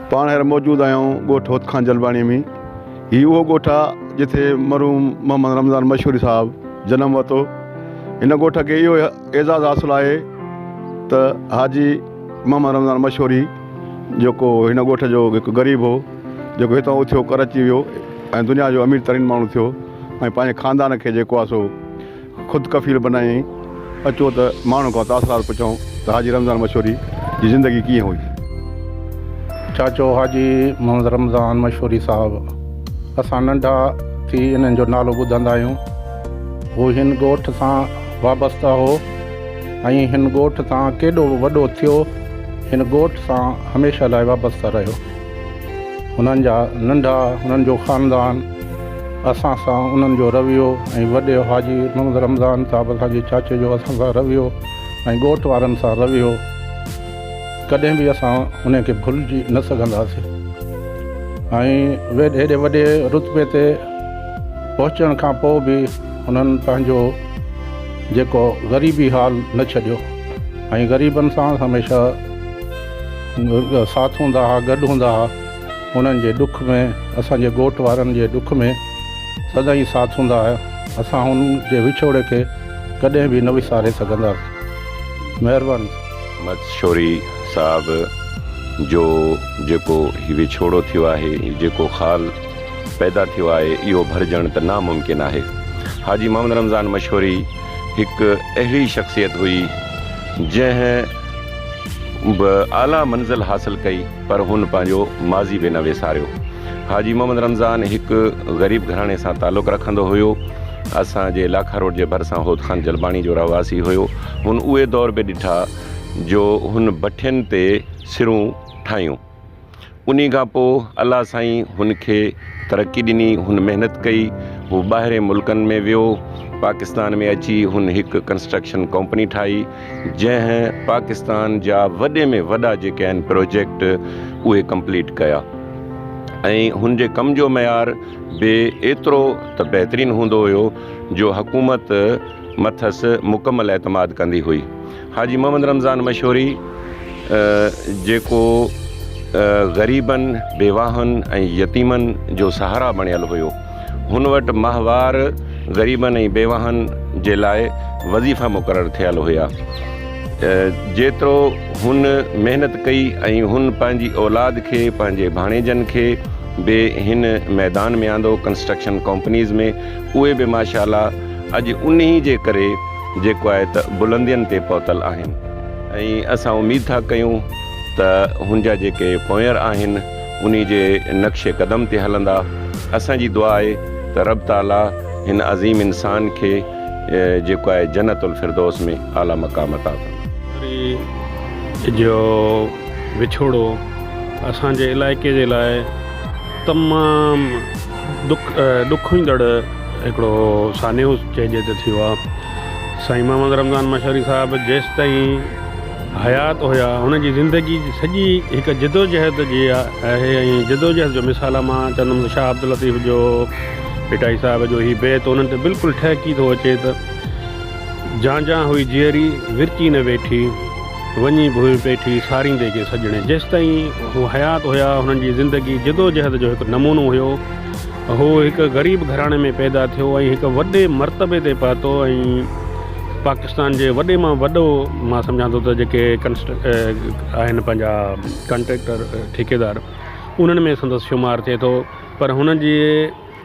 پاڻ هينئر موجود آهيون ڳوٺ هوتخان جلباڻي ۾ هي اهو ڳوٺ آ جتي مرحوم محمد رمضان مشوري صاحب جنم ورتو هن ڳوٺ کي اهو اعزاز حاصل آهي ته حاجي محمد رمضان مشوري جيڪو هن ڳوٺ جو هڪ غريب هو جيڪو هتان اٿيو ڪر اچي ويو ۽ دنيا جو امير ترين ماڻهو ٿيو ۽ پنهنجي خاندان کي جيڪو آ سو خود ڪفيل بنائين، اچو ته ماڻهن کان تاثرات پڇون ته حاجي رمضان مشوري جي زندگي ڪيئن هئي؟ چاچو حاجي محمد رمضان مشوري صاحب، اسان ننڍا ٿي انهن جو نالو ٻڌندا آهيون. هو هن ڳوٺ سان وابسته هو ۽ هن ڳوٺ تان ڪيڏو به وڏو ٿيو، هن ڳوٺ سان هميشه لاء وابسته رهيو. هنن جا ننڍا، هنن جو خاندان، اسان سان انهن جو رويو ۽ وڏي حاجي محمد رمضان صاحب اسان جي چاچي جو اسان سان رويو ۽ ڳوٺ وارن سان رويو ڪڏهن به اسان انهي کي ڀلجي نه سگهنداسين ۽ هيڏي وڏي رتبي تي پهچڻ کان پوء به هنن پنهنجو جيڪو غريبي حال نه ڇڏيو ۽ غريبن سان هميشه ساٿ هوندا ها گڏ هوندا ها انهن جي ڏک ۾ اسان جي ڳوٺ وارن جي ڏک ۾ سدائين ساٿ هوندا ها اسان هنن جي وڇوڙي کي ڪڏهن به نه وساري سگهنداسين مهرباني. مٿ شوري صاحب جو جيڪو هي وڇوڙو ٿيو آهي جيڪو خال پيدا ٿيو آهي اهو ڀرجڻ ته ناممڪن آهي حاجي محمد رمضان مشوري هڪ اهڙي شخصيت هئي جنهن به اعليٰ منزل حاصل ڪئي پر هن پنهنجو ماضي به نه وساريو. حاجي محمد رمضان هڪ غريب گهراڻي سان تعلق رکندو هيو. اسان جي لاکا روڊ جي ڀرسان هوت خان جلباڻي جو رهواسي هيو. هن اهي دور به ڏٺا جو هن ڀٺين تي سرون ٺاهيون. انهي کان پوء الله سائين هن کي ترقي ڏني، هن محنت ڪئي، هو ٻاهرين ملڪن ۾ ويو، پاڪستان ۾ اچي هن هڪ ڪنسٽرڪشن ڪمپني ٺاهي، جنهن پاڪستان جا وڏي ۾ وڏا جيڪي آهن پروجيڪٽ اهي ڪمپليٽ ڪيا ۽ هن جي ڪم جو معيار به ايترو ته بهترين هوندو هيو جو حڪومت مٿس مڪمل اعتماد ڪندي هئي. حاجي محمد رمضان مشوري جيڪو غريبن، بيواهن ۽ يتيمن جو سهارا بڻيل هيو. هن وٽ ماهوار غريبن ۽ بيواهن جي لاء وظيفا مقرر ٿيل هيا. جيترو هن محنت ڪئي ۽ هن پنهنجي اولاد کي پنهنجي ڀاڻيجن کي به هن ميدان ۾ آندو ڪنسٽرڪشن ڪمپنيز ۾ اهي به ماشاءالله اڄ انهي جي ڪري جيڪو آهي ته بلندين تي پهتل آهن ۽ اسان اميد ٿا ڪيون ته هن جا جيڪي پونئر آهن انهي جي نقش قدم تي هلندا اسان جي دعا آهي ته رب تعالي هن عظيم انسان کي جيڪو آهي جنت الفردوس ۾ اعلي مقام عطا فرمائي. ڏياري جو وڇوڙو اسان جي علائقي جي لاء تمام ڏک ڏک ايندڙ هڪڙو سانحو چئجي ته ٿيو آهي سائين محمد رمضان مشهري صاحب جيستائين حيات هيا هن جي زندگي جي سڄي هڪ جدوجهد جي آهي ۽ جدوجهد جو مثال آهي مان چوندم ته شاهه عبداللطيف جو ڀٽائي صاحب جو هي بيت انهن تي بلڪل ٺهڪي ٿو اچي ته جان جان هئي جيئري ورچي نه ويٺي وڃي ڀونء پيٺي ساريندي کي سڄڻي جيستائين هو حيات هيا هنن جي زندگي جدوجهد جو هڪ نمونو هيو. هو هڪ غريب گهراڻي ۾ پيدا ٿيو ۽ هڪ وڏي مرتبي تي پهتو ۽ پاڪستان جي وڏي مان وڏو مان سمجهان ٿو ته جيڪي آهن پنهنجا ڪنٽريڪٽر ٺيڪيدار انهن ۾ سندس شمار ٿئي ٿو پر هن جي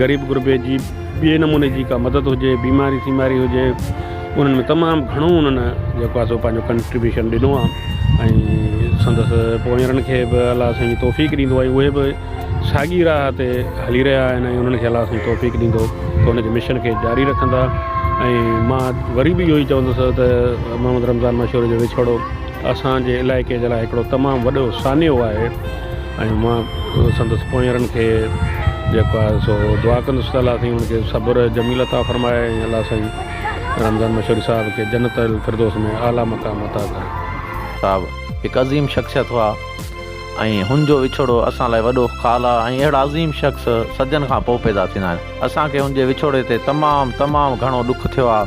غريب غربي جي ٻي نموني جي ڪا مدد هجي بيماري سيماري هجي انهن ۾ تمام گهڻو انهن جيڪو آ سو پنهنجو ڪنٽريبيوشن ڏنو آ ۽ سندس پونئيرن کي به الله سائين توفيق ڏيندو آ اهي به ساڳي راهه تي هلي رهيا آهن ۽ انهن کي الله سائين توفيق ڏيندو ته انهن جي مشن کي جاري رکندا ۽ مان وري به اهو ئي چوندس ته محمد رمضان مشوري جو وڇوڙو اسانجي علائقي جي لاء هڪڙو تمام وڏو سانحو آهي ۽ مان سندس پونئيرن کي جيڪو آهي سو دعا ڪندس ته الله سائين ان کي صبر جميل عطا فرمائي ۽ الله سائين رمضان مشهوري صاحب کي جنت الفردوس ۾ اعليٰ مقام عطا ڪري. صاحب هڪ عظيم شخصيت هئا ۽ هن جو وڇوڙو اسان لاء وڏو خال آهي ۽ اهڙا عظيم شخص صدين کان پوء پيدا ٿيندا آهن. اسان کي هن جي وڇوڙي تي تمام تمام گهڻو ڏک ٿيو آهي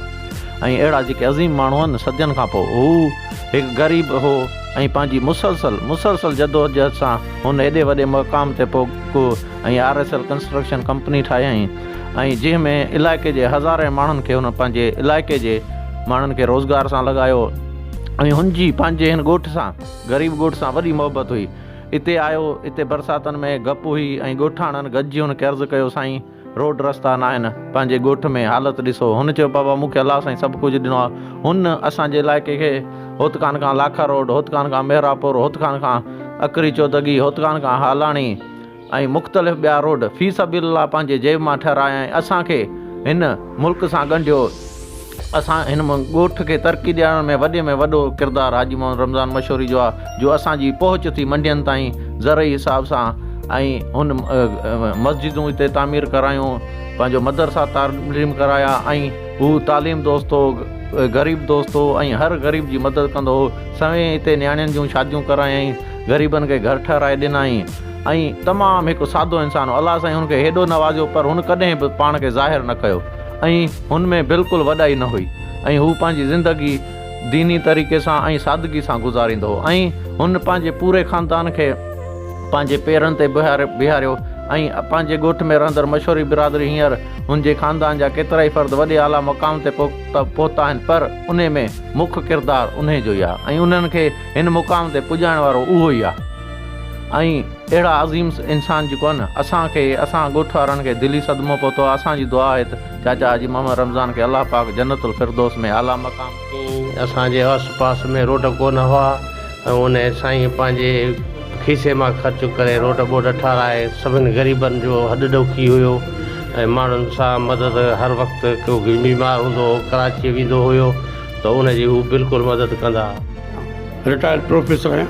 ۽ اهڙا جيڪي عظيم ماڻهو آهن صدين کان پوء هو هڪ غريب هو. ۽ پنهنجي مسلسل مسلسل جدوجهد سان هن ايڏي وڏي مقام تي پهڪو ۽ R S L construction company ٺاهيائين ۽ جنهن ۾ علائقي جي هزارين ماڻهن کي هن پنهنجي علائقي جي ماڻهن کي روزگار سان لڳايو ۽ هن جي پنهنجي هن ڳوٺ سان غريب ڳوٺ سان وڏي محبت هئي اتي آيو اتي برساتن ۾ گپ هئي ۽ ڳوٺاڻن گڏجي هن کي عرض ڪيو سائين روڊ رستا ناهن پنهنجي ڳوٺ ۾ حالت ڏسو هن چيو بابا مون کي الله سائين سڀ ڪجهه ڏنو آهي هن اسان جي علائقي کي هوتڪان کان لاکا روڊ هوتڪان کان مهراپور هوتڪان کان اکري چودڳي هوتڪان کان هالاڻي ۽ مختلف ٻيا روڊ في سبيل الله پنهنجي جيب مان ٺهرايائين اسان کي هن ملڪ سان ڳنڍيو اسان هن ڳوٺ کي ترقي ڏيارڻ ۾ وڏي ۾ وڏو ڪردار حاجي محمد رمضان مشوري جو آ جو اسان جي پهچ ٿي منڊين تائين زرعي حساب سان ۽ هن مسجدون هتي تعمير ڪرايون پنهنجو مدرسا تعليم ڪرايا ۽ هو تعليم دوست هو غريب دوست هو ۽ هر غريب جي مدد ڪندو هو سوين هتي نياڻين جون شاديون ڪرايائين غريبن کي گهر ٺهرائي ڏنائين ۽ تمام هڪ سادو انسان هو الله سائين هن کي هيڏو نوازيو پر هن ڪڏهن به پاڻ کي ظاهر نه ڪيو ۽ هن ۾ بلڪل وڏائي نه هئي ۽ هو پنهنجي زندگي ديني طريقي سان ۽ سادگي سان گذاريندو هو ۽ هن پنهنجي پوري خاندان کي پنهنجي پيرن تي بيهاريو ۽ پنهنجي ڳوٺ ۾ رهندڙ مشوري برادري هينئر هن جي خاندان جا ڪيترائي فرد وڏي اعليٰ مقام تي پهتا آهن پر انهي ۾ مک ڪردار انهي جو ئي آهي ۽ انهن کي هن مقام تي پڄائڻ وارو اهو ئي آهي ۽ اهڙا عظيم انسان جيڪو آهي نه اسان کي اسان ڳوٺ وارن کي دلي صدمو پهتو آهي اسان جي دعا آهي ته چاچا حاجي محمد رمضان کي الله پاڪ جنت الفردوس ۾ اعليٰ مقام ڪين اسان جي آس پاس ۾ روڊ ڪونه هئا ۽ ان سائين پنهنجي کيسي مان خرچ ڪري روڊ ٻوڊ ٺاهرائي سڀن غريبن جو هڏ ڏوکي هيو ۽ ماڻهن سان مدد هر وقت ڪو بيمار هوندو هو ڪراچي ويندو هيو ته ان جي هو بلڪل مدد ڪندا. رٽائرڊ پروفيسر آهيان.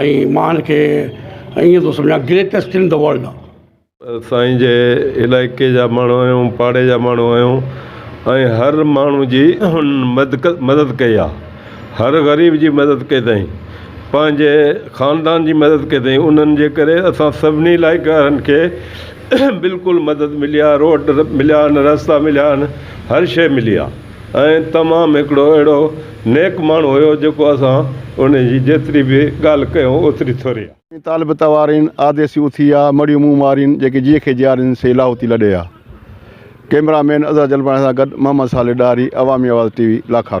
۽ مان هن کي ائين ٿو سمجهان گريٽيسٽ ان دي ورلڊ. سائين جي علائقي جا ماڻهو آهيون پاڙي جا ماڻهو آهيون ۽ هر ماڻهو جي هن مدد ڪئي آ هر غريب جي مدد ڪئي تائين پنهنجي خاندان جي مدد ڪئي تائين انهن جي ڪري اسان سڀني علائقي وارن کي بلڪل مدد ملي آ روڊ مليا آهن رستا مليا آهن هر شئي ملي آ. ۽ تمام هڪڙو اهڙو نيڪ ماڻهو هيو جيڪو اسان ان جي جيتري به ڳالهه ڪيون اوتري ٿوري آ. ڪي طالب توارين، آديسي اٿي آ، مڙيون منهن مارين، جيڪي جيء کي جيارين سي لاهوتي لڏي آ. ڪئميرا مين اظهر جلباڻي سان گڏ محمد صالح ڏاهري، عوامي آواز ٽي وي، لاکارو.